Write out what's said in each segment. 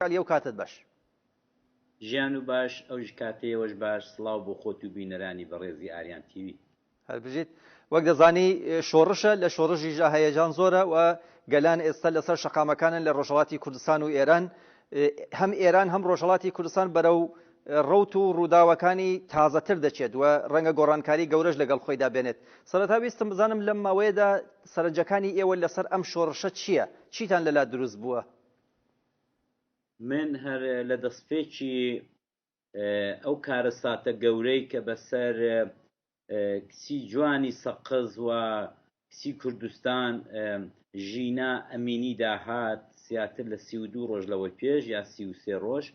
علی ئەو کاتەت باش. ژیان و باش ئەوژ کاتەیەوەش باش سڵاو بۆ خۆت و بینەرانی بەڕێزی ئاریان تیوی. هەر بژیت وەک دەزانی شۆڕشە لە شۆڕشیشدا هەیەجان زۆرە و گەلان ئێستا لەسەر شەقامەکانن لە ڕۆژهەڵاتی کوردستان و ئێران هەم ئێران هەم ڕۆژهەڵاتی کوردستان بەرەو ڕوت و ڕووداوەکانی تازەتر دەچێت و ڕەنگە گۆڕانکاری گەورەش لەگەڵ خۆیدا بێنێت سەرەتا ویستم بزانم لەم ماوەیەدا سەرنجەکانی ئێوە لەسەر ئەم شۆڕشە چییە چیتان لەلا دروست بووە من هەر لە دەستپێکی ئەو کارەساتە گەورەی کە بەسەر کچی جوانی سەقز و کچی کوردستان ژینا ئەمینی داهات زیاتر لە سی و دوو ڕۆژ لەوەی پێش یا سی و سێ ڕۆژ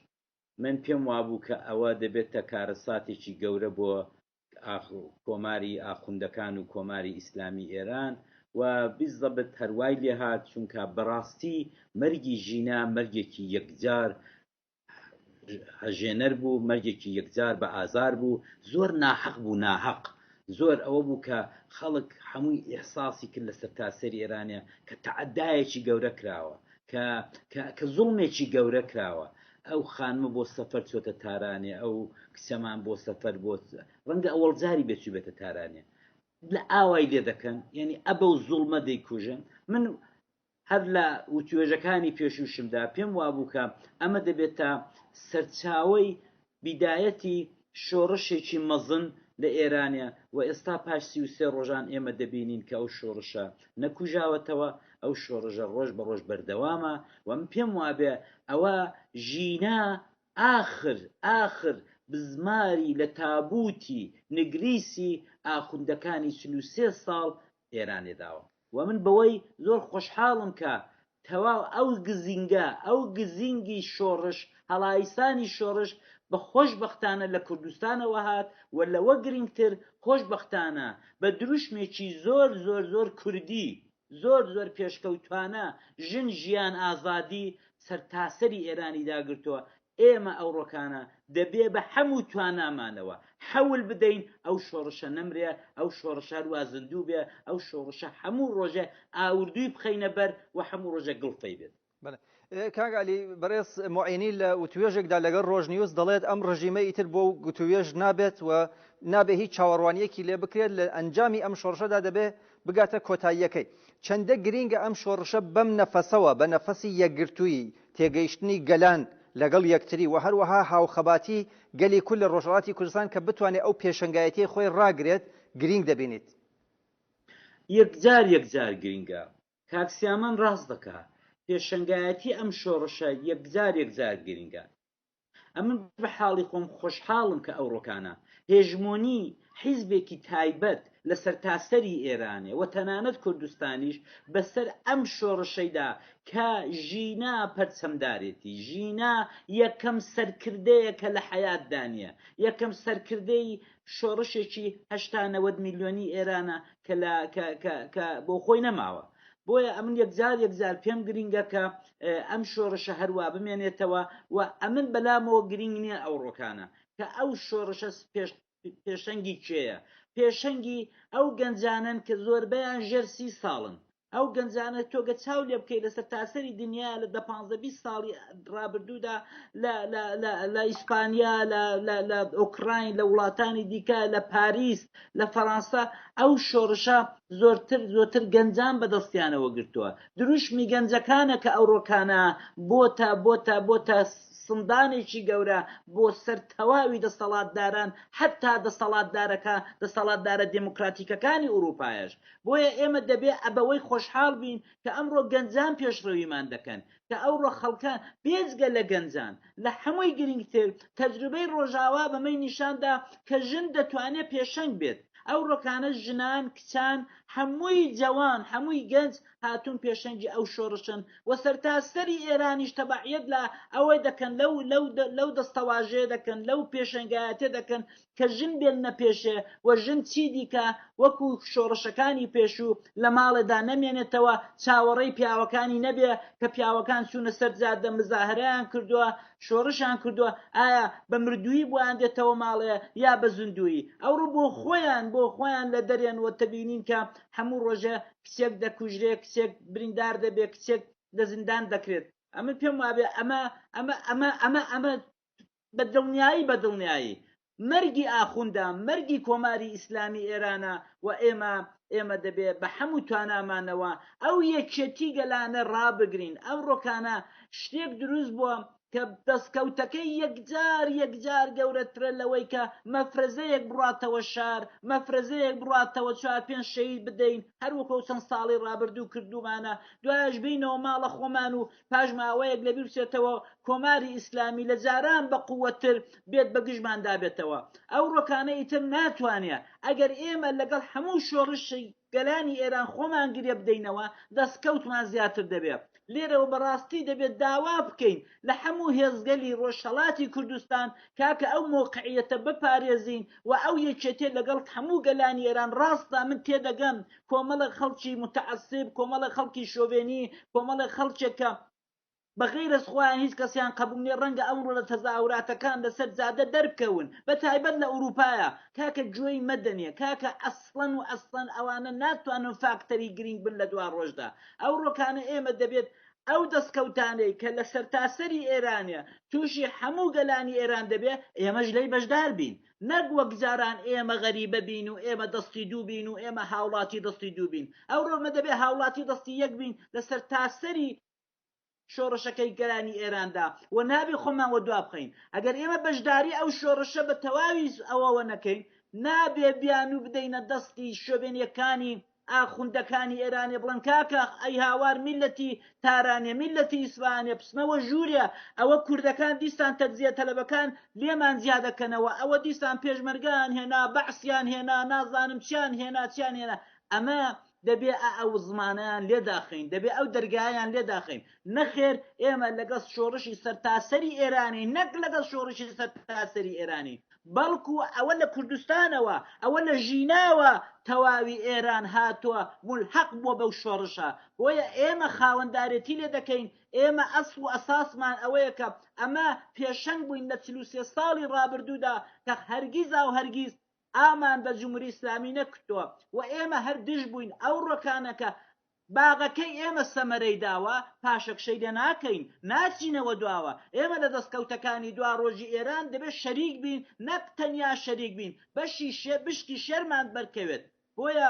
من پێم وابوو کە ئەوە دەبێتە کارەساتێکی گەورە بۆ کۆماری ئاخوندەکان و کۆماری ئیسلامی ئێران و بالزبط هەر وای لێ هات چونکا بەڕاستی مەرگی ژینا مەرگێکی یەکجار هەژێنەر بوو مەرگێکی یەکجار بە ئازار بوو زۆر ناحەق بوو ناهەق زۆر ئەوە بوو کە خەڵک هەمووی ئیحساسی کرد لە سەرتاسەری ئێرانە کە تەعەدایەکی گەورە کراوە کە کە زوڵمێکی گەورە کراوە ئەو خانمە بۆ سەفەر چۆتە تارانێ ئەو کچەمان بۆ سەفەر بۆ ڕەنگە ئەوەڵ جاری بێ چوبێتە تارانێ لە ئاوای لێ دەکەن یعنی ئەبە و زوڵمە دەیکوژن من هەر لە وتوێژەکانی پێشوشمدا پێم وابووکە ئەمە دەبێت تا سەرچاوی بیدایەتی شۆڕشێکی مەزن لە ئێرانە و ئێستا پاش سی و سێ ڕۆژان ئێمە دەبینین کە ئەو شۆڕشە نەکوژاوەتەوە، ئەو شۆڕژە ڕۆژ بە ڕۆژ بەردەوامە و من پێم وابێ ئەوە ژینا ئاخر ئاخر بزماری لە تابووتی نگریسی ئاخوندەکانی چل و سێ ساڵ ئێرانێ داوە و من بەوەی زۆر خۆشحاڵم کە تەواو ئەو گزینگە ئەو گزینگی شۆڕش هەڵایسانی شۆڕش بە خۆشببختانە لە کوردستانەوە هات و لەوە گرنگتر خۆشببختانە بە دروشمێکی زۆر زۆر زۆر کوردی زۆر زۆر پێشکەوتوانە ژن ژیان ئازادی سەرتاسەری ئێرانی داگرتووە ئێمە ئەوڕۆکانە دەبێ بە حەم و توانامانەوە حەول بدەین ئەو شۆڕشە نەمرێ، ئەو شۆڕشە هەروا زیندوو بێ، ئەو شۆڕشە هەموو ڕۆژێ ئاوردووی بخەینە بەر و هەموو ڕۆژێ گڵفەی بێت. بەڵێ. کاک عەلی، بەڕێز موعینی لە وتووێژێکدا لەگەڵ ڕۆژنیوز دەڵێت، ئەم ڕژیمە ئیتر بۆ گوتووێژ نابێت و نابێ هیچ چاوەڕوانییەکی لێ بکرێت، لە ئەنجامی ئەم شۆڕشەدا دەبێ بگاتە کۆتاییەکەی. چەندە گرینگە ئەم شۆڕشە بەم نەفەسەوە، بە نەفەسی یەکگرتوویی، تێگەیشتنی گەلان لەگەڵ یەکتری و هەروەها هاوخەباتی گەلی کورد لە ڕۆژهەڵاتی کوردستان کە بتوانێت ئەو پێشەنگایەتیەی خۆی ڕاگرێت، گرینگ دەبینیت؟ یەکجار یەکجار گرینگە. کاک سیامەند ڕاست دەکات. پێشەنگایەتی ئەم شۆڕشە یەکجار یەکجار گرینگە. ئەمن بە حاڵی خۆم خۆشحاڵم کە ئەوڕۆکانە هێژمۆنی حیزبێکی تایبەت لە سەرتاسەری ئێرانێ و تەنانەت کوردستانیش بەسەر ئەم شۆڕشەیدا کە ژینا پەرچەمدارێتی ژینا یەکەم سەرکردەیە کە لە حەیاتدا نییە یەکەم سەرکردەی شۆڕشێکی هەشتا نەوەد میلیۆنی ئێرانە کە بۆ خۆی نەماوە بۆیە ئەمن یەکجار یەکجار پێم گرینگەکە ئەم شۆڕشە هەروا بمێنێتەوە و ئەمن بەلامەوە گرینگ نیە ئەوڕۆکانە کە ئەو شۆڕشە پێش پێشەنگی کێیە پێشەنگی ئەو گەنجانن کە زۆربیان ژێر سی ساڵن ئەو گەنجانە تۆگە چاو لێ بکەیت لەسەر تاسەری دنیا لە دە پانزە بی ساڵی ڕابردوودا لە ئیسپانیا لە ئۆکراین لە وڵاتانی دیکە لە پاریس لە فەڕانسا ئەو شۆڕشە زۆرتر زۆرتر گەنجان بەدەستیانەوە گرتووە دروشمی گەنجەکانە کە ئەوڕۆکانە بۆتە بۆتە بۆتە سندانێکی گەورە بۆ سەر تەواوی دەستەڵاتداران حەتا دەستەڵاتدارەکە دەستەڵاتدارە دێمۆکڕاتیکەکانی ئوڕووپایش بۆیە ئێمە دەبێ ئەبەوەی خۆشحاڵ بین کە ئەمڕۆ گەنجان پێشڕەویمان دەکەن کە ئەوڕۆ خەڵکە بێجگە لە گەنجان لە حەمووی گرینگتر تەجروبەی ڕۆژاوا بەمەی نیشان دا کە ژن دەتوانێ پێشەنگ بێت ئەو ڕۆکانە ژنان، کچان، هەمووی جەوان، هەمووی گەنج هاتوون پێشەنگی ئەو شۆڕشن و سەرتاسەری ئێرانیش تەبعیەت لە ئەوە دەکەن، لەو دەستەواژەیە دەکەن، لەو پێشەنگایەتیە دەکەن کە ژن بێلنە پێشێ و ژن چی دیکە وەکو شۆڕشەکانی پێشوو لە ماڵێدا نەمێنێتەوە، چاوەڕێی پیاوەکانی نەبێ کە پیاوەکان چوونە سەر جادە مزاهرەیان کردووە، شۆڕشیان کردووە ئایا بە مردوویی بۆیان دێتەوە ماڵێ یا بە زندوویی ئەوڕۆ بۆ خۆیان بۆ خۆیان لە دەرێن وە تبینین کە هەموو ڕۆژێ کچێک دەکوژرێ کچێک بریندار دەبێ کچێک لە زیندان دەکرێت ئەمن پێم وابێ ئەمە ئەمە ئەمە ئەمە ئەمە بە دڵنیایی بە دڵنیایی مەرگی ئاخوندە مەرگی کۆماری ئیسلامی ئێرانە و ئێمە ئێمە دەبێ بە حەموو توانامانەوە ئەو یەکیەتی گەلانە ڕابگرین ئەمڕۆکانە شتێک دروست بووە کە دەستکەوتەکەی یەکجار یەکجار گەورەترە لەوەی کە مەفرەزەیەک بڕاتەوە شار مەفرەزەیەک بڕاتەوە چوار پێنج شەهید بدەین هەر وەکۆ چەند ساڵی ڕابردوو کردوومانە دوایەش بینەوە ماڵە خۆمان و پاش ماوەیەک لەبیر بچێتەوە و کۆماری ئیسلامی لە جاران بە قووەتتر بێت بە گژماندا بێتەوە ئەوڕۆکانە ئیتر ناتوانێ ئەگەر ئێمە لەگەڵ هەموو شۆڕشی گەلانی ئێران خۆمان گرێ بدەینەوە دەستکەوتمان زیاتر دەبێ لێرەوە بەڕاستی دەبێت داوا بکەین لە هەموو هێزگەلی ڕۆژهەڵاتی کوردستان کاکە ئەو مۆقعیەتە بپارێزین و ئەو یەکێتیە لەگەڵ هەموو گەلانی ئێران ڕاستە من تێدەگەم کۆمەڵێک خەڵکی متعسب کۆمەڵێک خەڵکی شۆڤێنی کۆمەڵێک خەڵکێک کە بە غیر از خۆیان هیچ کەسیان قبول نیە ڕەنگە ئەمڕۆ لە تەزاوراتەکان لەسەر جادە دەربکەون بە تایبەت لە ئوروپایا کاکە گوێی مەدەنێ کاکە ئەسڵەن و ئەسڵەن ئەوانە ناتوانن فاکتەری گرینگ بن لە دوا ڕۆژدا ئەو ڕۆکانە ئێمە دەبێت ئەو دەستکەوتانەی کە لە سەرتاسەری ئێرانە تووشی هەموو گەلانی ئێران دەبێ ئێمەش لەی بەشدار بین نەک وەک جاران ئێمە غەریبە بین و ئێمە دەستی دوو بین و ئێمە هاوڵاتی دەستی دوو بین ئەوڕۆ ئێمە دەبێ هاوڵاتی دەستی یەک بین لە سەرتاسەری شۆڕشەکەی گەلانی ئێراندا و نابێ خۆمان وە دوا بخەین ئەگەر ئێمە بەشداری ئەو شۆڕشە بە تەواوی ئەوەوە نەکەین نابێ بیانوو بدەینە دەستی شۆڤێنیەکانی ئاخوندەکانی ئێرانێ بڵێن کاکە ئەی هاوار میللەتی تارانێ میللەتی ئیسفەهانێ بچنەوە ژوورێ ئەوە کوردەکان دیسان تەجزیە تەلەبەکان لێمان جیا دەکەنەوە ئەوە دیسان پێشمەرگەیان هێنا بەعسیان هێنا نازانم چیان هێنا چیان هێنا ئەمە دەبێ ئا ئەو زمانەیان لێ داخەین دەبێ ئەو دەرگایان لێ داخەین نەخێر ئێمە لەگەڵ شۆڕشی سەرتاسەری ئێرانی نەک لەگەڵ شۆڕشی سەرتاسەری ئێرانی بەڵکو ئەوە لە کوردستانەوە، ئەوە لە ژیناوە تەواوی ئێران هاتووە مولحەق بووە بەو شۆڕشە، بۆیە ئێمە خاوەندارێتی لێ دەکەین، ئێمە ئەسڵ و ئەساسمان ئەوەیە کە ئەمە پێشەنگ بووین لە چل و سێ ساڵی ڕابردوودا کە هەرگیز ئاو هەرگیز ئامان بە جمهوری ئیسلامی نەکوتووە و ئێمە هەر دژ بووین ئەو ڕکانە کە باغەکەی ئێمە سەمەرەی داوە، پاشەکشەی لێ ناکەین، ناچینەوە دواوە، ئێمە لە دەستکەوتەکانی دواڕۆژی ئێران دەبێ شەریک بین، نەک تەنیا شەریک بین، بەشی شێ بشکی شێرمان بەرکەوێت. بۆیە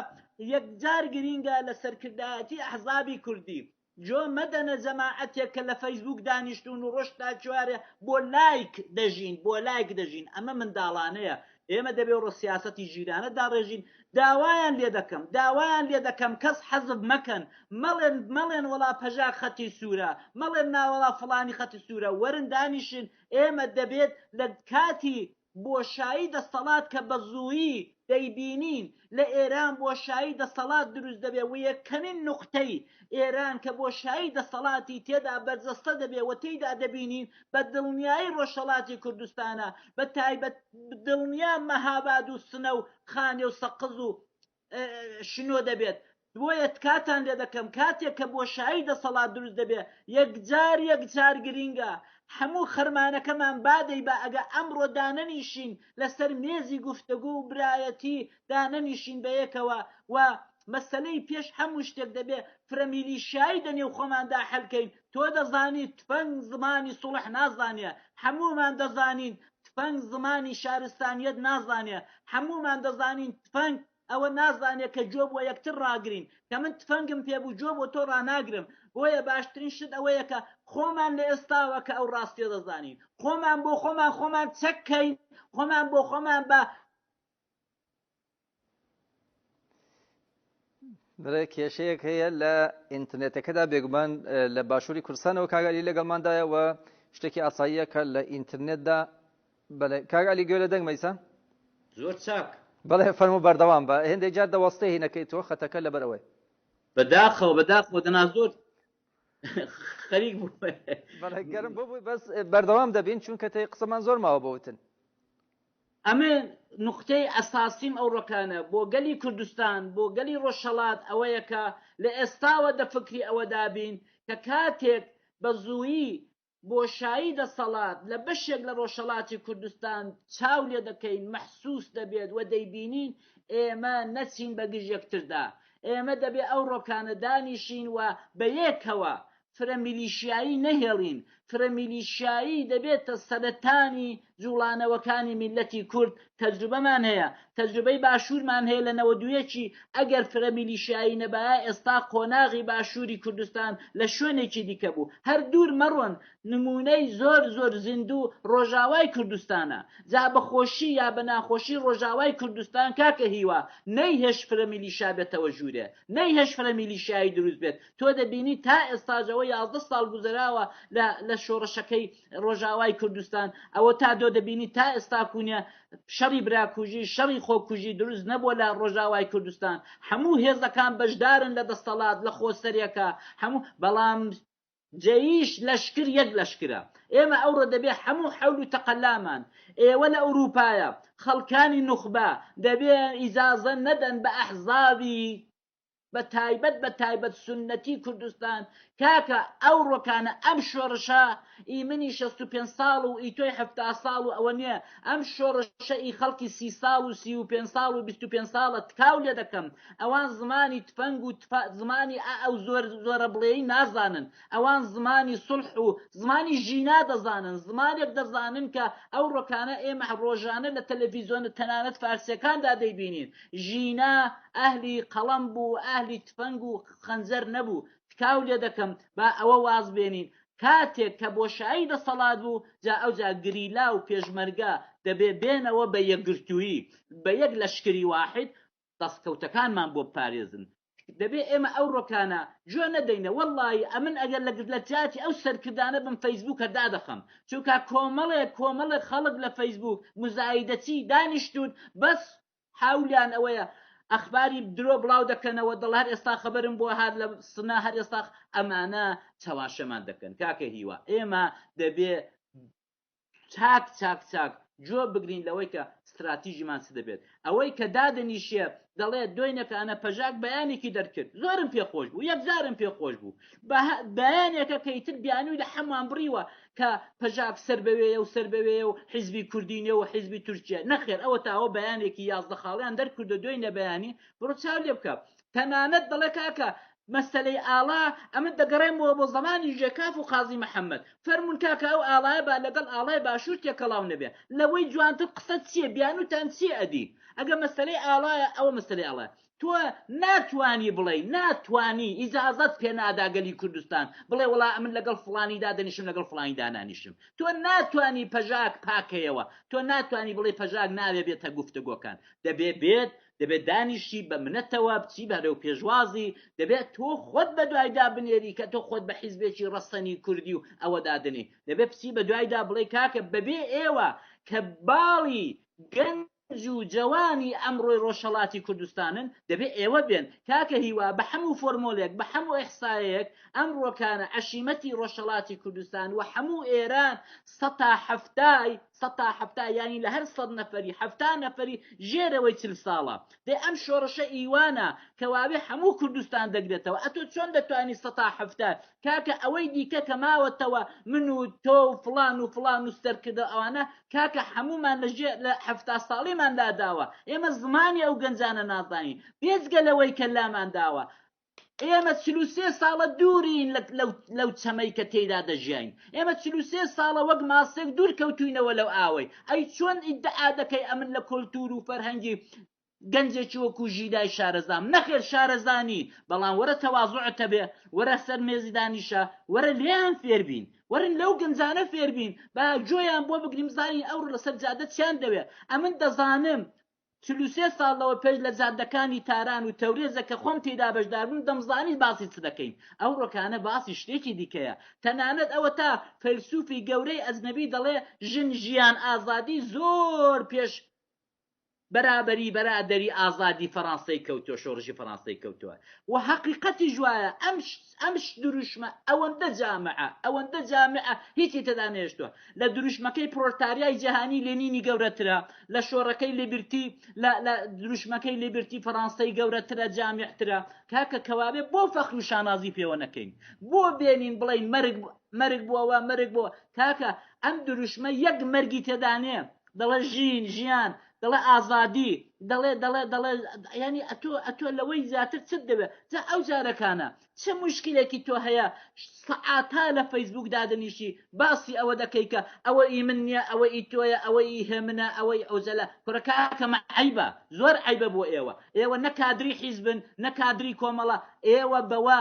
یەکجار گرینگە لە سەرکردایەتی ئەحزابی کوردی، جۆ مەدەنە جەماعەتێک کە لە فەیسبووک دانیشتوون و ڕۆژ تا چوارێ بۆ لایک دەژین، بۆ لایک دەژین، ئەمە منداڵانەیە، ئێمە دەبێ ڕۆ سیاسەتی ژیرانە داڕێژین، داوایان لێ دەکەم داوایان لێ دەکەم کەس حەزف مەکەن مەڵێن مەڵێن وەڵا پەژاک خەتی سوورە مەڵێن نا وەڵا فڵانی خەتی سوورە وەرن دانیشن ئێمە دەبێت لە کاتی بۆشایی دەستەڵات کە بە زوویی دەیبینین لە ئێران بۆشایی دەستەڵات دروست دەبێ و یەکەمین نوقتەی ئێران کە بۆشایی دەستەڵاتی تێدا بەرجەستە دەبێ و تێیدا دەبینین بە دڵنیایی ڕۆژهەڵاتی کوردستانە بە تایبەت دڵنیا مەهاباد و سنە و خانێ و سەقز و شنۆ دەبێت بۆیە تکاتان لێ دەکەم کاتێک کە بۆشایی دەسەڵات دروست دەبێت یەکجار یەکجار گرینگە هەموو خەرمانەکەمان بادەی بە ئەگە ئەمڕۆ دانەنیشین لەسەر مێزی گفتەگۆ و برایەتی دانەنیشین بەیەکەوە و مەسەلەی پێش هەموو شتێک دەبێ فرە میلیشیایی دە نێو خۆماندا حەل کەین تۆ دەزانیت تفەنگ زمانی سوڵح نازانێ هەموومان دەزانین تفەنگ زمانی شارستانیەت نازانێ هەموومان دەزانین تفەنگ ئەوە نازانێت کە جۆ بۆ یەکتر ڕاگرین کە من تفەنگم پێ بوو جۆ بۆ تۆ ڕناگرم بۆیە باشترین شت ئەوەیە کە خۆمان لە ئێستاوە کە ئەو ڕاستیە دەزانین خۆمان بۆ خۆمان خۆمان چەککەین خۆمان بۆ خۆمان بە برای کێشەیەک هەیە لە ئینترنێتەکەدا بێگومان لە باشووری کوردستانەوە کاگەلی لەگەڵماندایە و شتێکی ئاساییەکە لە ئینترنێتدا بەڵێ کاگەلی گوێ لە دەنگ مەیسا زۆر چاک بەڵێ فەرمو بەردەوام بە هێندێک جار دەوەستێ هینەکەی تۆ خەتەکە لەبەرەوەی بەداخەوە بەداخەوە دەنا زۆر خەریک بوو گەرم بۆ بووی بەس بەردەوام دەبین چونکە تێ قسەمان زۆر ماوە بۆتن ئەمە نوقتەی ئەساسیم ئەو ڕکانە بۆ گەلی کوردستان بۆ گەلی ڕۆژهەڵات ئەوەیە کە لە ئێستاوە دە فکری ئەوەدا بین کە کاتێک بە زوویی بۆشایی دەسەڵات لە بەشێک لە ڕۆژهەڵاتی کوردستان چاو لێ دەکەین مەحسووس دەبێت و دەیبینین ئێمە نەچین بە گژ یەکتردا ئێمە دەبێ ئەو ڕۆکانە دانیشین و بە یەکەوە فرە میلیشیایی نەهێڵین، فرە میلیشیایی دەبێتە سەرەتانی جوڵانەوەکانی میللەتی کورد، تەجروبەمان هەیە، تەجروبەی باشورمان هەیە لە نەوەد و یەک-ی، ئەگەر فرە میلیشیایی نەبایە ئێستا قۆناغی باشوری کوردستان لە شوێنێکی دیکە بوو، هەر دوور مەڕۆن نمونەی زۆر زۆر زیندوو ڕۆژاوای کوردستانە، جا بە خۆشی یا بە ناخۆشی ڕۆژاوای کوردستان کاکە هیوا نەیهێشت فرە میلیشیا بێتەوە ژورێ، نەیهێشت فرە میلیشیایی دروست بێت، تۆ دەبینی تا ئێستاش ئەوە یازدە ساڵ گوزەراوە لە لە شۆڕشەکەی ڕۆژاوای کوردستان ئەوە تا دۆ دەبینی تا ئێستاکوونە شەڕی براکوژی شەڕی خۆکوژی دروست نەبووە لە ڕۆژاوای کوردستان هەموو هێزەکان بەشدارن لە دەستەڵات لە خۆسەرێکە هەموو بەڵام جەیش لەشکر یەک لەشکرە ئێمە ئەوڕۆ دەبێ هەموو حەول و تەقەلامان ئێوە لە ئەوروپایە خەڵکانی نوخبە دەبێ ئیزازە نەدەن بە ئەحزابی بە تایبەت بە تایبەت سوننەتی کوردستان کاکە ئەو ڕۆکانە ئەم شۆڕشە ئی منی شەست و پێنج ساڵ و ئی تۆی حەفتا ساڵ و ئەوە نییە ئەم شۆڕشە ئی خەڵکی سی ساڵ و سی و پێنج ساڵ و بیست و پێنج ساڵە تکاو لێ دەکەم ئەوان زمانی تفەنگ و زمانی ئا ئەو زۆر زۆرە بڵێی نازانن ئەوان زمانی سوڵح و زمانی ژینا دەزانن زمانێک دەزانن کە ئەو ڕۆکانە ئێمە ڕۆژانە لە تەلەفیزۆنە تەنانەت فارسیەکاندا دەیبینین ژینا ئەهلی قەڵەم بوو و ئەهلی تفەنگ و خەنجەر نەبوو، تکاو لێ دەکەم با ئەوە واز بێنین کاتێک کە بۆشایی دەسەڵات بوو جا ئەوجا گریلا و پێشمەرگە دەبێ بێنەوە بە یەکگرتوویی بە یەک لەشکری واحد دەستکەوتەکانمان بۆ بپارێزن، دەبێ ئێمە ئەو ڕۆکانە جۆ نەدەینە، وەڵڵاهی ئەمن ئەگەر لە لەجاتی ئەو سەرکردانە بم فەیسبووکە دادەخەم، چونکا کۆمەڵێک کۆمەڵێک خەڵک لە فەیسبووک، مزایدەچی، دانیشتوون بەس هەولیان ئەوەیە ئەخباری درۆ بڵاو دەکەنەوە دەڵ هەر ئێستا خەبەرم بوە هات لە سنە هەر ئێستا ئەمانە چەواشەمان دەکەن کاکە هیوا ئێمە دەبێ چاک چاک چاک جۆ بگرین لەوەی کە ستراتیژیمان چ دەبێت ئەوەی کە دادەنیشێ دەڵێت دۆینەکانە پەژاک بەیانێکی دەرکرد زۆرم پێخۆش بوو یەکجارم پێخۆش بوو بەیانێکە کەیتر بیانووی لە حەمان بڕیوە کە پەژاک سەر بەوێیە و سەر بەوێیە و حیزبی کوردی نێو و حیزبی تورکییە. نەخێر ئەوەتا ئەوە بەیانێکی یازدە خاڵیان دەرکردووە دوای نەبەیانی بڕۆ چاو لێ بکە. تەنانەت دەڵێ کاکە مەسەلەی ئاڵا ئەمن دەگەڕێمەوە بۆ زەمانی ژێکاف و قازی محەمەد. فەرموون کاکە ئەو ئاڵایە با لەگەڵ ئاڵای باشوور تێکەڵاو نەبێ. لەوەی جوانتر قسە چییە؟ بیانووتان چییە ئەدی؟ ئەگەر مەسەلەی ئاڵایە ئەوە مەسەلەی ئاڵایە. تۆ ناتوانی بڵێی ناتوانی ئیجازەت پێ نادا گەلی کوردستان بڵێ وڵا ئەمن لەگەڵ فڵانی دادەنیشم لەگەڵ فڵانی دانانیشم تۆ ناتوانی پەژاک پاکەیەوە تۆ ناتوانی بڵێ پەژاک ناوێ بێتە گفتگۆکان دەبێ بێت دەبێت دانیشی بە منەتەوە بچی بەرەو پێشوازی دەبێت تۆ خۆت بە دوایدا بنێری کە تۆ خۆت بە حیزبێکی ڕەسەنی کوردی و ئەوە دادنی دەبێت بچی بە دوایدا بڵێ کاکە بەبێ ئێوە کە باڵی گەنج گەنج و جەوانی ئەمڕۆی ڕۆژهەڵاتی کوردستانن دەبێ ئێوە بێن کاکە هیوا بە حەموو فۆرمۆلێک بە حەموو ئیحسایەیەک ئەمڕۆکانە عەشیمەتی ڕۆژهەڵاتی کوردستان و حەموو ئێران سەتا حەفتای سەتا حەفتا یانی لە هەر سەد نەفەری حەفتا نەفەری ژێرەوەی چل ساڵە دەی ئەم شۆڕشە ئیوانە کەواوێ حەموو کوردستان دەگرێتەوە ئەتۆ چۆن دەتوانی سەتا حەفتا کاکە ئەوەی دیکە کە ماوەتەوە من و تۆ و فڵان و فڵان و سەرکردە و ئەوانە کاکە حەموومان لە ژێ لە حەفتا ساڵیمان لاداوە ئێمە زمانی ئەو گەنجانە نازانین بێجگە لەوەی کە لامان داوە ئێمە چل و سێ ساڵە دوورین لەو چەمەی کە تێیدا دەژیاین ئێمە چل و سێ ساڵە وەک ماسێک دوور کەوتوینەوە لەو ئاوەی ئەی چۆن ئیدعا دەکەی ئەمن لە کۆلتوور و فەرهەنگی گەنجێکی وەکو ژیدای شارەزام نەخێر شارەزا نی بەڵام وەرە تەوازوعت هەبێ وەرە سەر مێزی دانیشە وەرە لێیان فێر بین وەرن لەو گەنجانە فێر بین با گوێیان بۆ بگرین بزانین ئەوڕۆ لەسەر جادە چیان دەوێ ئەمن دەزانم چل و سێ ساڵ لەوە پێش لە جادەکانی تاران و تەورێزە کە خۆم تێیدا بەشدار بووم دەمزانی باسی چ دەکەین ئەو ڕۆکانە باسی شتێکی دیکەیە تەنانەت ئەوە تا فەیلسوفی گەورەی ئەجنەبی دەڵێ ژن ژیان ئازادی زۆر پێش بەرابەری بەرادەری ئازادی فەرانسەی کەوتوە شۆڕشی فەرانسەی کەوتوە وە هەقیقەتیش وایە ئەم ئەم دروشمە ئەوەندە جامعە ئەوەندە جامعە هیچی تێدا نێشتوە لە دروشمەکەی پرۆلتاریای جیهانی لێنینی گەورەترە لە شۆڕەکەی لیبرتی لە لە دروشمەکەی لیبرتی فەرانسەی گەورەترە جامعترە کاکە کەوابێ بۆ فەخر و شانازی پێوە نەکەین بۆ بێنین بڵێین مەرگ مەرگ بۆوە مەرگ بۆ کاکە ئەم دروشمە یەک مەرگی تێدانێ دەڵێ ژین ژیان دەڵێ ئازادی دەڵێ دەڵێ دەڵێ ینی ئەتۆ ئەتۆ لەوەی زیاتر چت دەوێ جا ئەو جارەکانە چ مشکلێکی تۆ هەیە سەعاتا لە فەیسبوک دادەنیشی باسی ئەوە دەکەی کە ئەوە ئی من نییە ئەوە ئی تۆیە ئەوە ئی هێمنە ئەوەی ئەوزەلە کورەکە کەمە عیبە زۆر عیبە بۆ ئێوە ئێوە نە کادری حیزبن نە کادری کۆمەڵە ئێوە بەوە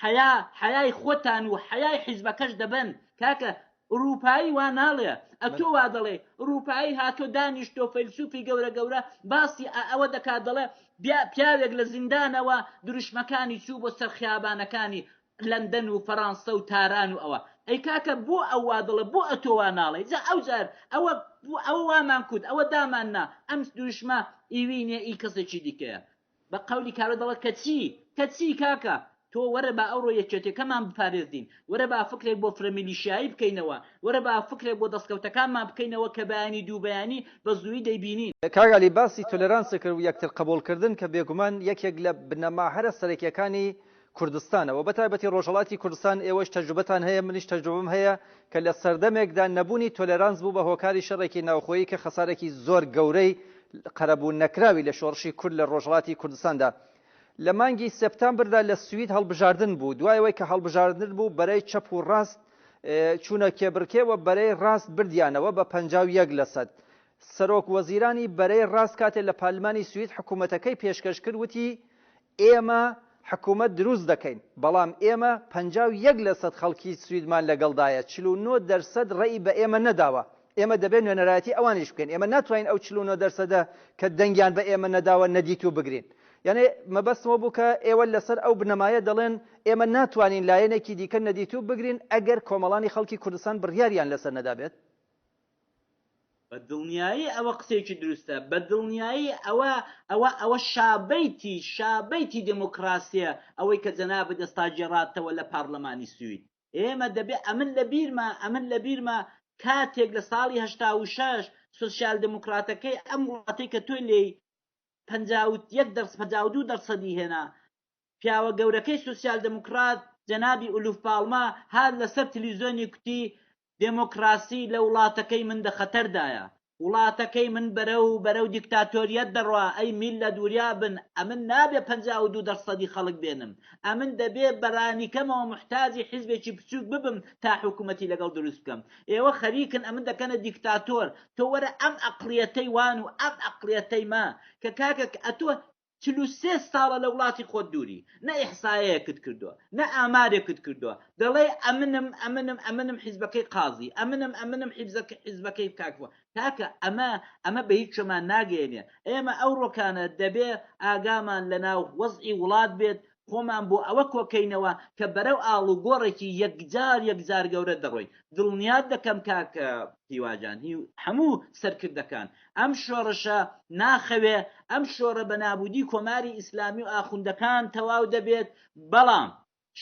حەیا حەیای خۆتان و حەیای حیزبەکەش دەبەن کاکە ئوروپایی وا ناڵێ ئەتۆ وا دەڵێی ئوروپایی هاتۆ دانیشتۆ فەیلسوفی گەورە گەورە باسی ئە ئەوە دەکا دەڵێ بیا پیاوێک لە زیندانەوە دروشمەکانی چوو بۆ سەر خیابانەکانی لەندەن و فەرانسە و تاران و ئەوە ئەی کاکە بۆ ئەو وا دەڵێ بۆ ئەتۆ وا ناڵێی جا ئەو جار ئەوە ئەوە وامان کوت ئەوە دامان نا ئەم دروشمە ئیوی نیە ئی کەسێکی دیکەیە بە قەولی کابرا دەڵێت کە چی؟ کە چی کاکە؟ تۆ وەرە با ئەوڕۆ یەکێتیەکەمان بپارێزین، وەرە با فکرێک بۆ فرە میلیشیایی بکەینەوە، وەرە با فکرێک بۆ دەستکەوتەکانمان بکەینەوە کە بەیانی دوو بەیانی بە زوویی دەیبینین. کاک عەلی باسی تۆلێرانسی کرد و یەکترقبوڵکردن کە بێگومان یەکێک لە بنەما هەرە سەرەکیەکانی کوردستانەوە بەتایبەتی ڕۆژهەڵاتی کوردستان ئێوەش تەجروبەتان هەیە منیش تەجروبەم هەیە کە لە سەردەمێکدا نەبوونی تۆلێرانس بوو بە هۆکاری شەڕێکی ناوخۆیی کە خەسارێکی زۆر گەورەی قەرەبوو نەکراوی لە شۆڕشی کورد لە ڕۆژهەڵاتی کوردستاندا لە مانگی سێپتامبردا لە سوید هەڵبژاردن بوو دوایەوەی کە هەڵبژاردن بوو بەرەی چەپ و ڕاست چوونە کێبڕکێ و بەرەی ڕاست بردیانەوە بە پەنجا و یەک لەسەد سەرۆک وەزیرانی بەرەی ڕاست کاتێ لە پارلمانی سوید حکوومەتەکەی پێشکەش کرد وتی، ئێمە حکوومەت دروست دەکەین، بەڵام ئێمە پەنجا و یەک لەسەد خەڵکی سویدمان لەگەڵدایە، چل و نۆ دەرسەد ڕێی بە ئێمە نەداوە، ئێمە دەبێ نوێنەرایەتی ئەوانیش بکەین، ئێمە ناتوانین ئەو چل و نۆ دەرسەدە کە دەنگیان بە ئێمە نەداوە نەدیتوو بگرین. یانێ مەبەستم ئەوە بوو کە ئێوە لەسەر ئەو بنەمایە دەڵێن ئێمە ناتوانین لایەنێکی دیکە نەدیتوو بگرین ئەگەر کۆمەڵانی خەڵکی کوردستان بڕیاریان لەسەر نەدابێت؟ بە دڵنیایی ئەوە قسەیەکی دروستە، بە دڵنیایی ئەوە ئەوە ئەوە شابەیتی شابەیتی دێمۆکڕاسییە ئەوەی کە جەنابت ئێستا گێڕاتەوە لە پارلمانی سوید. ئێمە دەبێ ئەمن لە بیرمە ئەمن لە بیرمە کاتێک لە ساڵی هەشتا و شەش سۆسیال دێمۆکڕاتەکەی ئەم وڵاتەی کە تۆ لێی پەنجا و یەک دەرس پەنجا و دوو دەرسەدی هێنا پیاوە گەورەکەی سۆسیال دێمۆکڕات جەنابی ئولوف پاڵمە هات لەسەر تلیزۆنی کوتی دێمۆکڕاسی لە وڵاتەکەی من دە خەتەر دایە، وڵاتەکەی من بەرەو بەرەو دیکتاتۆریەت دەڕوا ئەی میللەت وریا بن ئەمن نابێ پەنجا و دوو دە سەدی خەڵک بێنم ئەمن دەبێ بە رانیکەمەوە موحتاجی حیزبێکی بچوک ببم تا حکومەتی لەگەڵ دروست بکەم ئێوە خەریکن ئەمن دەکەنە دیکتاتۆر تۆ وەرە ئەم ئەقڵیەتەی وان و ئەم ئەقڵیەتەی مە کە کاکە ئەتۆ چل و سێ ساڵە لە وڵاتی خۆت دووری، نە ئیحسایەیەکت کردووە، نە ئامارێکت کردووە، دەڵێی ئەمنم، ئەمنم، ئەمنم حیزبەکەی قازی، ئەمنم، ئەمنم حیزبەکەی کاک فڵان. کاکە ئەمە، ئەمە بە هیچ شتێکمان ناگەیەنێ. ئێمە ئەو ڕۆکانە دەبێ ئاگامان لە ناو وەزعی وڵات بێت، خۆمان بۆ ئەوە کۆکەینەوە کە بەرەو ئاڵوگۆڕێکی یەکجار یەکجار گەورە دەڕۆین. دڵنیات دەکەم کاک هیواجان هی هەموو سەرکردەکان ئەم شۆڕشە ناخەوێ، ئەم شۆڕە بە نابوودی کۆماری ئیسلامی و ئاخوندەکان تەواو دەبێت، بەڵام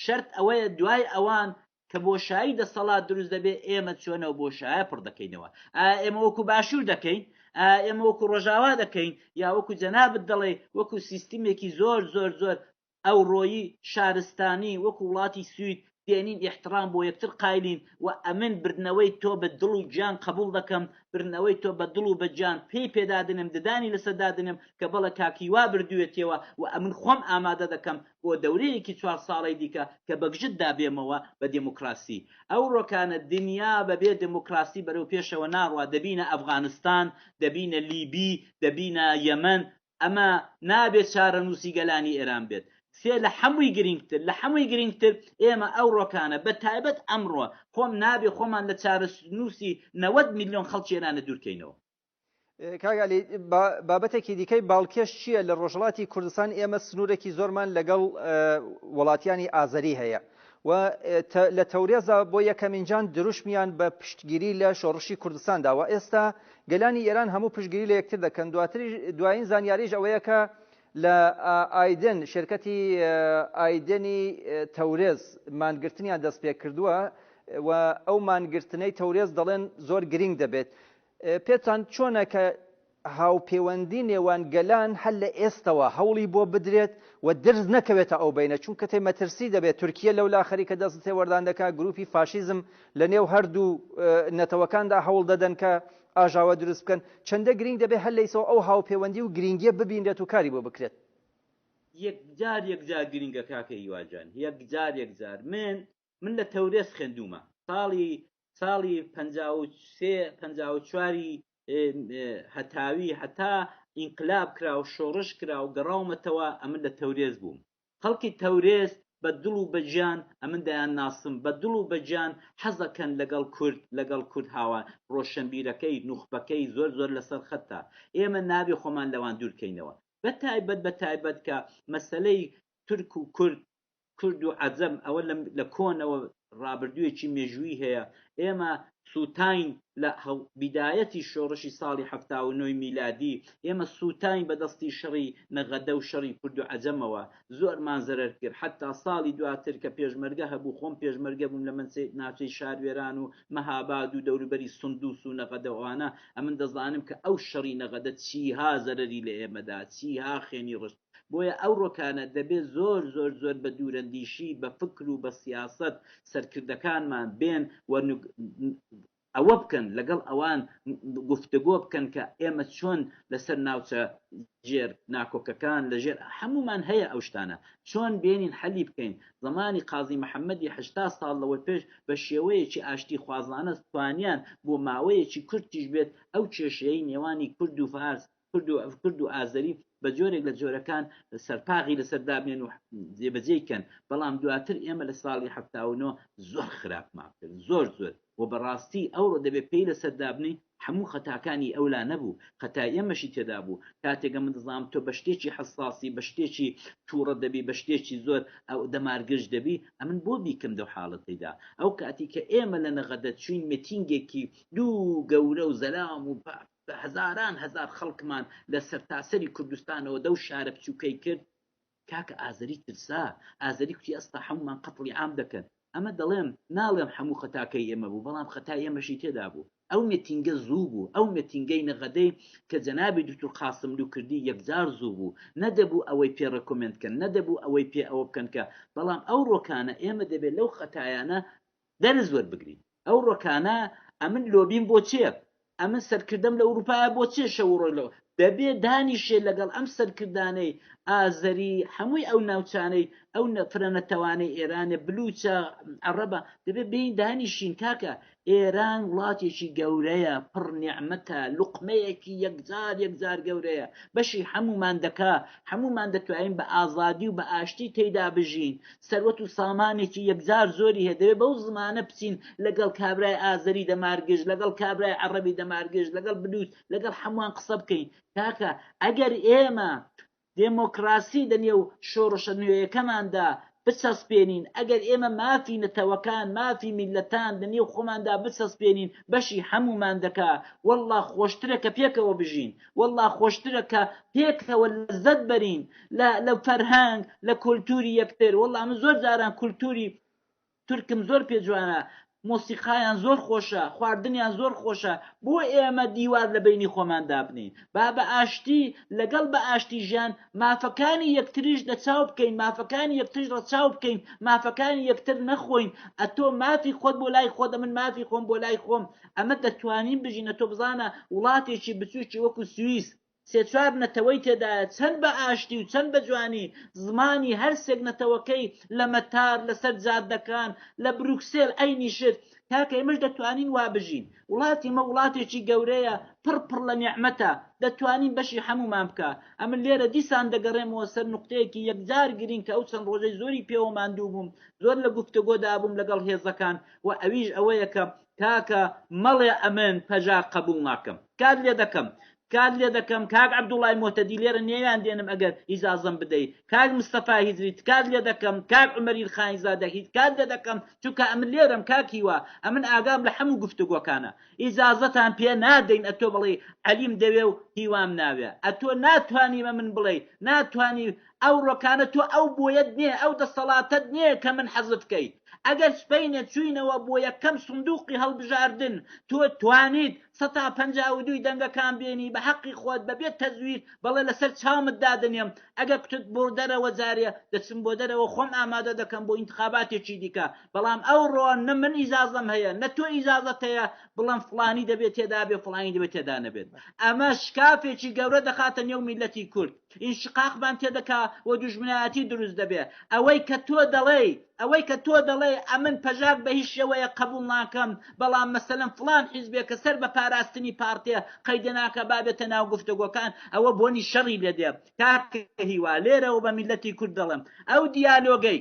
شەرت ئەوەیە دوای ئەوان کە بۆشایی دەسەڵات دروست دەبێت ئێمە چۆن ئەو بۆشایە پڕ دەکەینەوە ئایا ئێمە وەکو باشوور دەکەین ئایا ئێمە وەکو ڕۆژاوا دەکەین یا وەکو جەنابت دەڵێ وەکو سیستمێکی زۆر زۆر زۆر ئەوڕۆیی شارستانی وەکو وڵاتی سوید دێنین ئیحترام بۆ یەکتر قایلین و ئەمن بردنەوەی تۆ بە دڵ و گیان قبول دەکەم بردنەوەی تۆ بە دڵ و بە گیان پێی پێدادنم ددانی لەسەر دادنم کە بەڵە کاک هیوا بردوێتیەوە و ئەمن خۆم ئامادە دەکەم بۆ دەورەیەکی چوار ساڵەی دیکە کە بەگژت دا بێمەوە بە دێموکراسی ئەو ڕۆکانە دنیا بە بێ دێموکراسی بەرەو پێشەوە ناڕوا دەبینە ئەفغانستان دەبینە لیبی دەبینە یەمەن ئەمە نابێت چارەنووسی گەلانی ئێران بێت سێ لە حەمووی گرینگتر لە حەمووی گرینگتر ئێمە ئەو ڕۆکانە بە تایبەت ئەمڕۆ خۆم نابێ خۆمان لە چارەنووسی نەوەد میلیۆن خەڵکی ئێرانە دوورکەینەوە کاگا علی بابەتێکی دیکەی باڵکێش چییە لە ڕۆژهڵاتی کوردستان ئێمە سنوورێکی زۆرمان لەگەڵ وڵاتیانی ئازەری هەیە و لە تەورێزا بۆ یەکەمینجان دروشمیان بە پشتگیری لە شۆڕشی کوردستان داوە ئێستا گەلانی ئێران هەموو پشتگیری لە یەکتر دەکەن دواتری دوایین زانیاریش ئەوەیە کە لە ئایدن شرکەتی ئایدنی تەورێز مانگرتنیان دەست پێ کردووە و ئەو مانگرتنەی تەورێز دەڵێن زۆر گرنگ دەبێت پێتان چۆنە کە هاوپێوەندی نێوان گەلان هەر لە ئێستەوە هەوڵی بۆ بدرێت و درز نەکەوێتە ئەو بینە چونکە تێ مەترسی دەبێت تورکیە لەولا خەریکە دەست تێوەردان دەکات گروپی فاشیزم لە نێو هەردوو نەتەوەکاندا هەوڵ دەدەن کە ئاژاوە دروست بکەن چەندە گرنگ دەبێت هەر لەیسەوە ئەو هاوپێوەندی و گرنگیە ببینرێت و کاری بۆ بکرێت یەکجار یەکجار گرنگە کاکە هیوا جان یەکجار یەکجار من من لە تەورێز خوێندوومە ساڵی ساڵی پەنجا و سێ پەنجا و چواری هەتاوی هەتا ئینقلاب کرا و شۆڕش کرا و گەڕاومەتەوە ئەمن لە تەورێز بووم خەڵکی تەورێز بە دڵ و بە گیان ئەمن دەیان ناسم بە دڵ و بە گیان حەزەکەن لەگەڵ کورد لەگەڵ کورد هاوان ڕۆشنبیرەکەی نوخبەکەی زۆر زۆر لەسەر خەتە ئێمە نابێ خۆمان لەوان دوورکەینەوە بە تایبەت بە تایبەت کە مەسەلەی تورک و کورد کورد و عەجەم ئەوە لە کۆنەوە ڕابردووێکی مێژوویی هەیە ئێمە سووتاین لە بیدایەتی شۆڕشی ساڵی حەفتا و نۆی میلادی ئێمە سووتاین بە دەستی شەڕی نەغەدە و شەڕی کورد و عەجەمەوە زۆرمان زەرەر کرد حەتا ساڵی دواتر کە پێشمەرگە هەبوو خۆم پێشمەرگە بووم لە ناوچەی شاروێران و مەهاباد و دەوروبەری سندوس و نەغەدە و ئەوانە ئەمن دەزانم کە ئەو شەڕی نەغەدە چیها زەرەری لە ئێمەدا چیها خوێنی ڕشت بۆیە ئەو ڕۆکانە دەبێ زۆر زۆر زۆر بە دوورەندیشی بە فکر و بە سیاسەت سەرکردەکانمان بێن و ئەوە بکەن لەگەڵ ئەوان گفتگۆ بکەن کە ئێمە چۆن لەسەر ناوچە ژێر ناکۆکەکان لەژێر هەمومان هەیە ئەو شتانە چۆن بێنین حەلی بکەین زمانی قازی محەممەدی هشتا ساڵ لەوە پێش بە شێوەیەکی ئاشتی خوازانە توانیان بۆ ماوەیەکی کورتیش بێت ئەو کێشەی نێوانی کورد و فارس کورد و کورد و ئازەری بە جۆرێک لە جۆرەکان سەرپاغی لەسەر دابنێن و جێبەجێی کەن بەڵام دواتر ئێمە لە ساڵی هەفتا و نۆ زۆر خراپمان کرد زۆر زۆر و بەڕاستی ئەوڕۆ دەبێ پێی لەسەر دابنین هەموو خەتاکانی ئەولا نەبوو خەتای ئێمەشی تێدا بوو کاتێکە من دەزانم تۆ بە شتێکی حەساسی بە شتێکی تووڕە دەبی بە شتێکی زۆر ئەو دەمارگرژ دەبی ئەمن بۆ بیکەم دەو حاڵەتەیدا ئەو کاتی کە ئێمە لە نەغەدە چوین متینگێکی دوو گەورە و زەلام و پاک بە هەزاران هەزار خەڵکمان لە سەرتاسەری کوردستانەوە دەو شارە بچووکەی کرد، کاکە ئازەری ترسا، ئازەری کوتی ئەستا حەموومان قەتڵی عام دەکەن، ئەمە دەڵێم، ناڵێم حەموو خەتاکەی ئێمە بوو، بەڵام خەتای ئێمەشی تێدا بوو، ئەو مێتینگە زوو بوو، ئەو مێتینگەی نەغەدەی کە جەنابی دوکتور قاسملوو کردی یەکجار زوو بوو، نەدەبوو ئەوەی پێ ڕێکۆمێند کەن، نەدەبوو ئەوەی پێ ئەوە بکەن کە، بەڵام ئەو ڕۆکانە ئێمە دەبێ لەو خەتایانە دەرس وەربگرین ئەو ڕۆکانە ئەمن لۆبیم بۆ چێ ئەمن سەرکردەم لە ئوروپایە بۆ چێ شەو ڕۆی لەوە دەبێ دانیشێ لەگەڵ ئەم سەرکردانەی ئازەری هەمووی ئەو ناوچانەی ئەو فرە نەتەوانەی ئێرانێ بلوچە عەڕەبە دەبێ بێین دانیشین کاکە ئێران وڵاتێکی گەورەیە پڕ نیعمەتە لوقمەیەکی یەکجار یەکجار گەورەیە بەشی هەمومان دەکا هەمومان دەتوانین بە ئازادی و بە ئاشتی تێیدا بژین سەروەت و سامانێکی یەکجار زۆری هەیە دەبێت بەو زمانە بچین لەگەڵ کابرای ئازەری دەمارگژ لەگەڵ کابرای عەڕەبی دەمارگژ لەگەڵ بلوچ لەگەڵ حەموان قسە بکەین کاکە ئەگەر ئێمە دێمۆکڕاسی لەنێو شۆڕشە نوێیەکەماندا بچەسپێنین ئەگەر ئێمە مافی نەتەوەکان مافی میللەتان لەنێو خۆماندا بچەسپێنین بەشی هەموومان دەکا وەڵڵا خۆشترە کە پێکەوە بژین وەڵڵا خۆشترە کە پێکەوە لەزەت بەرین لە لە فەرهەنگ لە کولتوری یەکتر وەڵڵا من زۆر جاران کولتوری تورکم زۆر پێ جوانە مۆسیقایان زۆر خۆشە خواردنیان زۆر خۆشە بۆ ئێمە دیوار لە بینی خۆمان دابنین با بە ئاشتی لەگەڵ بە ئاشتی ژیان مافەکانی یەکتریش لە چاو بکەین مافەکانی یەکتریش ڕە چاو بکەین مافەکانی یەکتر نەخۆین ئەتۆ مافی خۆت بۆ لای خۆت من مافی خۆم بۆ لای خۆم ئەمە دەتوانین بژینە تۆ بزانە وڵاتێکی بچووکی وەکو سویس سێ چوار نەتەوەی تێدایە چەند بە ئاشتی و چەند بە جوانی زمانی هەرسێک نەتەوەکەی لە مەتار لەسەر جادەکان لە بروکسێل ئەینی شت کاکە ئێمەش دەتوانین وا بژین وڵاتی مە وڵاتێکی گەورەیە پڕ پڕ لە نیعمەتە دەتوانین بەشی هەمومان بکە ئەمن لێرە دیسان دەگەڕێمەوە سەر نقطەیەکی یەکجار گرین کە ئەو چەند ڕۆژەی زۆری پێوە ماندوو بووم زۆر لە گفتەگۆدا بووم لەگەڵ هێزەکان و ئەویش ئەوەیە کە کاکە مەڵێ ئەمن پەژاک قەبوڵ ناکەم کات لێدەکەم کات لێدەکەم کاک عبدوڵای موهتەدی لێرە نێویان دێنم ئەگەر ئیجازەم بدەی کاک مستەفا هیجری تکات لێدەکەم کاک عومەریل خانی زادە هیت کات لێدەکەم چونکە ئەمن لێرەم کاک هیوا ئەمن ئاگام لە حەموو گفتوگۆکانە ئیجازەتان پێ نادەین ئەتۆ بڵێی عەلیم دەوێ و هیوام ناوێ ئەتۆ ناتوانی بە من بڵێی ناتوانی ئەو ڕۆکانە تۆ ئەو بۆیەت نیە ئەو دەسەڵاتەت نیە کە من حەزت کەی ئەگەر سبەینێ چوینەوە بۆ یەکەم سندوقی هەڵبژاردن تۆ توانیت سەتا پەنجا و دووی دەنگەکان بێنی بە حەقی خۆت بە بێ تەزویر بەڵێ لەسەر چاومت دادەنێم ئەگەر کوتت بۆ دەرەوە جارێ دەچم بۆ دەرەوە خۆم ئامادە دەکەم بۆ ئینتخاباتێکی دیکە بەڵام ئەو ڕۆ نە من ئیجازەم هەیە نە تۆ ئیجازەت هەیە بڵێم فڵانی دەبێ تێدا بێ فڵانی دەبێ تێدا نەبێت ئەمە شکافێکی گەورە دەخاتە نێو میللەتی کورد ئینشقاقمان تێدەکا و دوژمنایەتی دروست دەبێ. ئەوەی کە تۆ دەڵێی، ئەوەی کە تۆ دەڵێی ئەمن پەژاک بە هیچ شێوەیەک قەبووڵ ناکەم، بەڵام مەسەلەن فڵان حیزبێ کە سەر بە پاراستنی پارتێ قەیدە ناکا با بێتە ناو گفتوگۆکان، ئەوە بۆنی شەڕی لێ دێ. کاکە هیوا، لێرەوە بە میللەتی کورد دەڵێم، ئەو دیالۆگەی،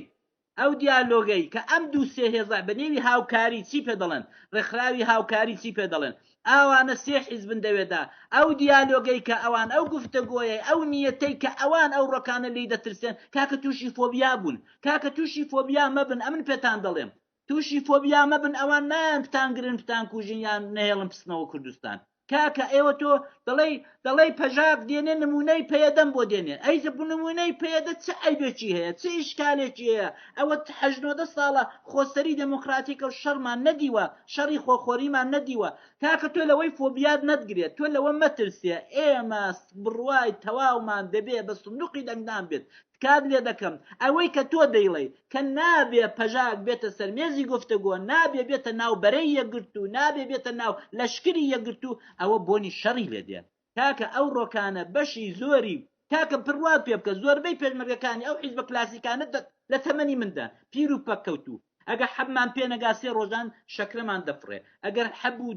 ئەو دیالۆگەی کە ئەم دوو سێ هێزە بە نێوی هاوکاری چی پێ دەڵێن ڕێکخراوی هاوکاری چی پێ دەڵێن ئاوانە سێ حیزبن دەوێدا ئەو دیالۆگەی کە ئەوان ئەو گفتەگۆیەی ئەو نیەتەی کە ئەوان ئەو ڕۆکانە لێی دەترسێن کاکە تووشی فۆبیا بوون کاکە تووشی فۆبیا مەبن ئەمن پێتان دەڵێم تووشی فۆبیا مەبن ئەوان نایان بتانگرن بتانکوژن یان نەهێڵن بچنەوە کوردستان کاکە ئێوە تۆ دەڵێی دەڵێی پەژاک دێنێ نمونەی پەیەدەم بۆ دێنێ ئەی زە نمونەی پەیەدە چ ئەیبێکی هەیە چ ئیشکالێکی هەیە ئەوە حەژنۆدە ساڵە خۆسەری دەموکراتیکە و شەڕمان نەدیوە شەڕی خۆخۆریمان نەدیوە کاکە تۆ لەوەی فۆبیات نەتگرێت تۆ لەوە مەترسێ ئێمە بڕوای تەواومان دەبێ بە سندوقی دەنگدان بێت تکات لێ دەکەم ئەوەی کە تۆ دەیڵێی کە نابێ پەژاک بێتە سەر مێزی گفتەگۆ نابێ بێتە ناو بەرەی یەکگرتوو نابێ بێتە ناو لەشکری یەکگرتوو ئەوە بۆنی شەڕی لێ دێ کاکە ئەو ڕۆکانە بەشی زۆری کاکە پڕوات پێ بکە زۆربەی پێشمەرگەکانی ئەو حیزبە کلاسیکانە لە تەمەنی مندا پیر و پەککەوتوو ئەگە حەبمان پێ نەگا سێ ڕۆژان شەکرەمان دەفڕێ ئەگەر حەب و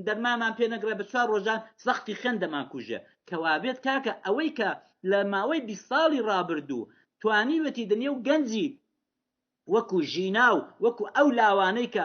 دەرمامان پێ نەگرە بە چوار ڕۆژان زەختی خوێن دەمان کوژێ کەوابێت کاکە ئەوەی کە لە ماوەی بیست ساڵی ڕابردوو توانیوێتی دنیا و گەنجی وەکو ژینا و وەکو ئەو لاوانەی کە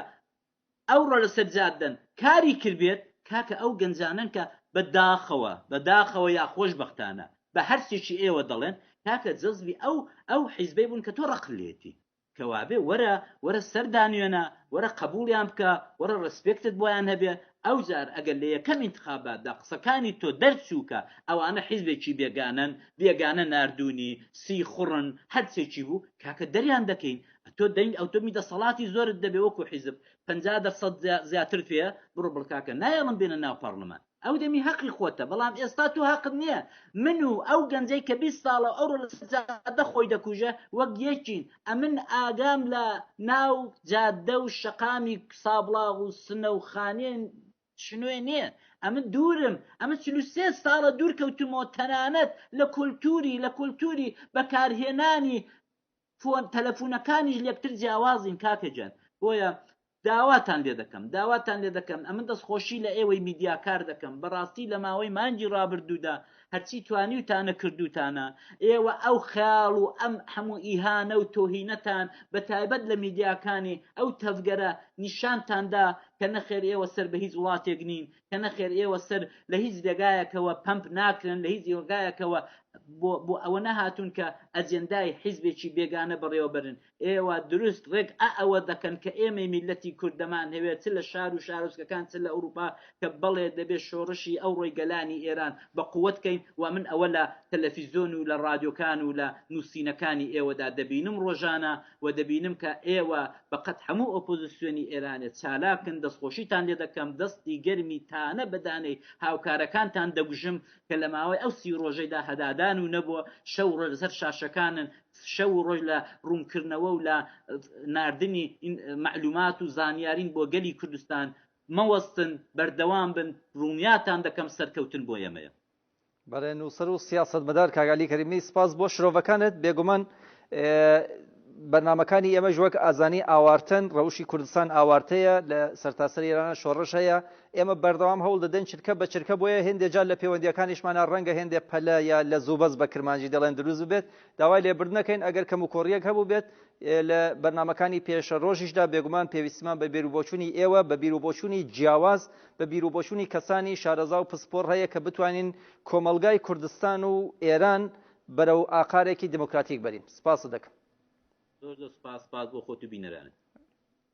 ئەوڕۆ لەسەر جاددەن کاری کردبێت کاکە ئەو گەنجانەن کە بە داخەوە بە داخەوە یا خۆشبەختانە بە هەرچێکی ئێوە دەڵێن کاکە جەزبی ئەو ئەو حیزبەی بوون کە تۆ ڕق لێتی کەوابێ وەرە وەرە سەر دانوێنە وەرە قەبوڵیان بکە وەرە ڕێسپێکتت بۆیان هەبێ ئەوجار ئەگەر لە یەکەم ئینتخاباتدا قسەکانی تۆ دەرچوو کە ئەوانە حیزبێکی بێگانەن بێگانە ناردوونی سیخوڕن هەرچێکی بوو کاکە دەریان دەکەین ئەتۆ دەنگ ئەوتۆمی دەسەڵاتی زۆرت دەبێ وەکو حیزب پەنجا دەرسەد زیاترت پێیە بڕۆ بڵکاکە نایەڵم بێنە ناو پەڕلمان. ئەو دەمی هەقی خۆتە بەڵام ئێستا تۆ هەقت نییە من و ئەو گەنجەی کە بیست ساڵە ئەوڕۆ لە جادە خۆی دەکوژە وەک یەکین ئەمن ئاگام لە ناو جادە و شەقامی سابڵاغ و سنە و خانێن شنوێ نییە ئەمە دوورم ئەمە چلو سێ ساڵە دوور کەوتمەوە تەنانەت لە کولتوری لە کولتوری بەکارهێنانی فۆن تەلەفونەکانیش لەکتر جیاوازین کاکە جان بۆیە داواتان لێ دەکەم داواتان لێ دەکەم ئەمن دەستخۆشی لە ئێوەی میدیاکار دەکەم بەڕاستی لە ماوەی مانگی ڕابردوودا هەرچی توانی و تانە کردوتانە ئێوە ئەو خیاڵ و ئەم هەموو ئیهانە و تۆهینەتان بە تایبەت لە میدیاکانی ئەو تەڤگەرە نیشانتاندا کە نەخێر ئێوە سەر بە هیچ وڵاتێک نین کە نەخێر ئێوە سەر لە هیچ دەگایەکەوە پەمپ ناکرن لە هیچ یۆگایەکەوە بۆ ئەوە نەهاتون کە ئەجێندای حیزبێکی بێگانە بەڕێوەبرن ئێوە دروست ڕێک ئا ئەوە دەکەن کە ئێمەی میلەتی کوردەمان هەوێت چ لە شار و شارۆچکەکان چ لە ئەوروپا کە بەڵێ دەبێت شۆڕشی ئەو ڕۆی گەلانی ئێران بە قوت کەین و من ئەوە لە تەلەفیزۆن و لە ڕادیۆکان و لە نووسینەکانی ئێوەدا دەبینم ڕۆژانە و دەبینم کە ئێوە بەقەد هەموو ئۆپۆزسیۆنی ئێرانێ چالاکن دەستخۆشیتان لێ دەکەم دەستی گەرمی تانە بە دانەی هاوکارەکانتان دەگوژم کە لە ماوەی ئەو سی ڕۆژەیدا هەدادان و نەبووە شەو و ڕۆژ لەسەر شاشەکانن شەو و ڕۆژ لە ڕوونکردنەوە و لە ناردنی مەعلومات و زانیارین بۆ گەلی کوردستان مەوەستن بەردەوام بن ڕوونیاتان دەکەم سەرکەوتن بۆ ئێمەیە. بەڵێ نووسەر و سیاسەتمەدار کاک عەلی کەریمی سپاس بۆ شرۆڤەکانت بێگومان بەرنمەکانی ئێمەش وەک ئازانی ئاوارتن ڕەوشی کوردستان ئاوارتەیە لە سەرتاسەر ئێرانە شۆڕش هەیە ئێمە بەردەوام هەوڵ دەدەن چرکە بە چرکە بۆیە هێندێجار لە پەیوەندیەکانیشمانە ڕەنگە هێندێ پەلە یا لە زوبەز بە کرمانجی دەڵێن دروست بێت داوای لێبردنەکەین ئەگەر کەم و کۆڕیەک هەبوو بێت لە بەرنمەکانی پێشە ڕۆژیشدا بێگومان پێویستمان بە بێروبۆچوونی ئێوە بە بیرروبۆچوونی جیاواز بە بیروبۆچونی کەسانی شارەزا و پسپۆر هەیە کە بتوانین کۆمەڵگای کوردستان و ئێران بەرەو ئاقارێکی دیموکراتیک بەرین. سپاست دەکەم. زۆر زۆر سپاس، سپاس بۆ خۆت و بینەرانت.